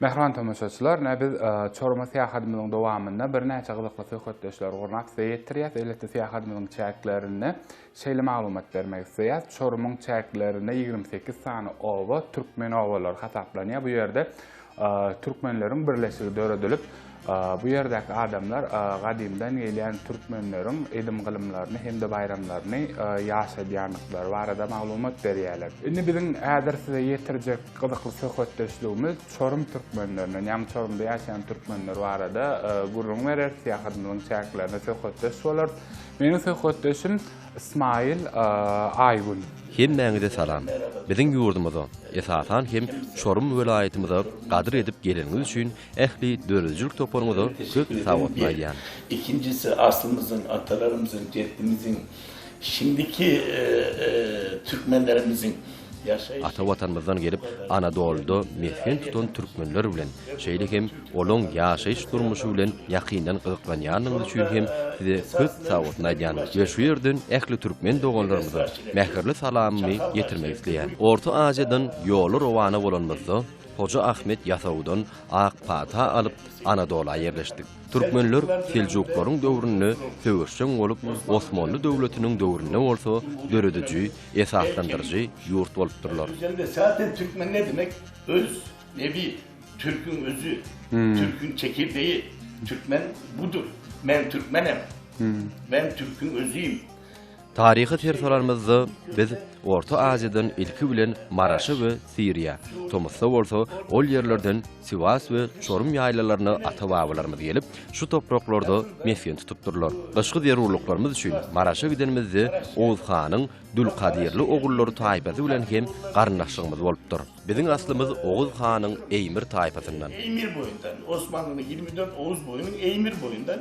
Mähriban tomaşaçylar, ine biz Çoruma syýahadymyzyň dowamynda birnäçe gyzykly söhbetdeşleri gurnap size ýetirýäs. Elbetde syýahadymyzyň çäklerinde şeýle maglumat bermek isleýäs, Çorumyň çäklerinde ýigrimi sekiz sany oba türkmen obalary hasaplanýar. Bu ýerde türkmenleriň birleşigi döredilip, Bu ýerdäki adamlar gadymdan gelýän türkmenleriň edim-gylymlaryny hem-de baýramlaryny ýaşadýandyklary barada maglumat berýärler. Indi biziň häzir size ýetirjek gyzykly söhbetdeşligimiz çorum türkmenlerinden, ýagny Çorumda ýaşaýan türkmenler barada gürrüň berer, syýahatymyzyň çäklerinde söhbetdeş bolarys. Meniň söhbetdeşim Ismaýyl Aýgün. Hemmäňize salam! Biziň ýurdumyza, esasan hem Çorum welaýatymyza gadyr edip geleniňiz üçin Ähli döredijilik toparyňyza köp sagwatny aýdýan. Ikinjisi aslymyzyň atalarymyzyň jeddimiziň şindiki türkmenlerimiziň ýaşaýyş. Ata watanymyzdan gelip Anadolyda mesgen tutan türkmenler bilen şeýle hem olaň ýaşaýyş durmuşy bilen ýakyndan gyzyklanýanlygyňyz üçin hem size köp sagwatny aýdýan we şu ýerden ähli türkmen doganlarymyza mähirli salamymy ýetirmek isleýän. Orta Aziýadan ýola rowana bolanymyzda Hoja Ahmet Ýasawudan ak pata alyp, Anadola ýerleşdik. Türkmenler seljuklaryň döwründe söweşjeň bolup, Osmanly döwletiniň döwründe bolsa dörediji, esaslandyryjy ýurt bolupdyrlar. Özem esasen türkmen ne demek? Öz, nebi, türküň özi, türküň çekirdeji, türkmen budur, men türkmenem, men türküň özüyim. Taryha ser salarymyzda, biz Orta Aziýadan ilki bilen Maraşa we Siriýa, tomusda bolsa ol ýerlerden Siwas we Çorum ýaýlalaryna ata-babalarymyz gelip, şu topraklarda mesgen tutupdyrlar. Gyşky zerurlyklarymyz üçin Maraşa gidenimizde Oguz hanyň Dülkadirli ogullary taýpasy bilen hem garyndaşlygymyz bolupdyr. Biziň aslymyz Oguz hanyň Eýmir taýpasyndan. Eýmir boýundan, Osmanlynyň ýigrimi dört Oguz boýunyň Eýmir boýundan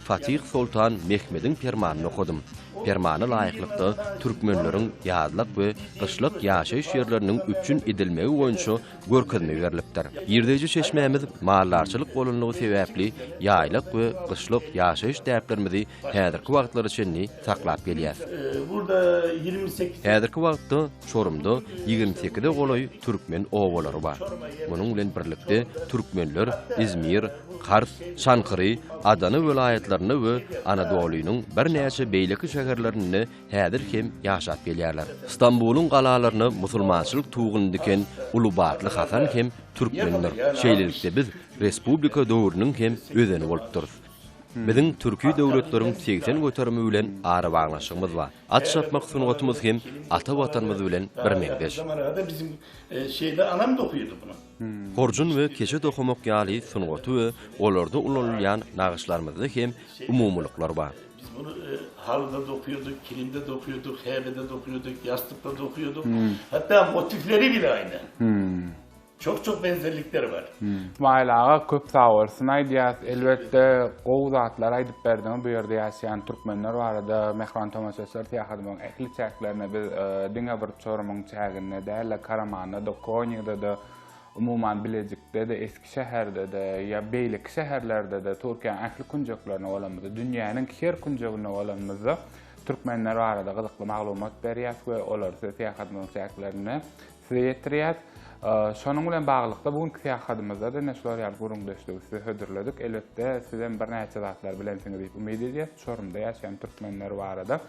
Fatih Soltan Mehmediň permanyny okadym. Permana laýyklykda, türkmenleriň ýazlak we gyşlak ýaşaýyş ýerleriniň üpjün edilmegi boýunça görkezme berlipdir. Girdeýji çeşmämiz maldarçylyk bolanlygy sebäpli, ýaýlak we gyşlak ýaşaýyş däplerimizi häzirki wagtlara çenli saklap gelýäris. Häzirki wagtda Çorumda ýigrimi sekize golaý türkmen obalary bar. Munuň bilen birlikde, türkmenler Izmir, Kars, Çankyry, Adana welaýatlarynda we Anadolynyň birnäçe beýleki şäherlerinde häzir hem ýaşap gelýärler. Stambulyň galalaryna musulmançylyk tuguny diken Ulubatly Hasan hem türkmendir. Şeýlelikde biz respublika döwrüniň hem özeni bolupdyrys. Biziň türki döwletleriň segsen göterimi bilen arabaglanyşygymyz bar. At çapmak sungatymyz hem ata Watanymyz bilen birmeňzeş. Horjun we keçe dokamak ýaly sungaty we olarda ulanylýan nagyşlarymyzda hem umumylyklar bar. Biz muny halyda dokaýardyk, kilimde dokaýardyk, häbede dokaýardyk, ýassykda dokaýardyk, hatda motifleri bile aýna. Çok-çok benzerlikler bar. Smaiýl aga köp sag bolsun aýdýas. Elbetde gowy zatlar aýdyp berdiňiz. Bu ýerde ýaşaýan türkmenler barada Mähriban tomaşaçylar syýahatymyzyň ähli çäklerine biz diňe bir Çorumyň çäginde däl-de, Karamanda-da, Konýada-da, umuman, Bilejikde-de, Eskişeherde-de ýa beýleki şäherlerde-de, Türkiýäniň ähli künjeklerinde bolanymyzda, dünýäniň her künjeginde bolanymyzda türkmenler barada gyzykly maglumat berýäs we olary size syýahatymyzyň çäklerinde size ýetirýäs. Şonuň bilen baglylykda, bu günki syýahatymyzda-da ine şular ýaly gürrüňdeşligi size hödürledik. Elbetde, sizem birnäçe zatlar bilensiňiz diýip umyt edýäs, Çorumda ýaşaýan türkmenler barada.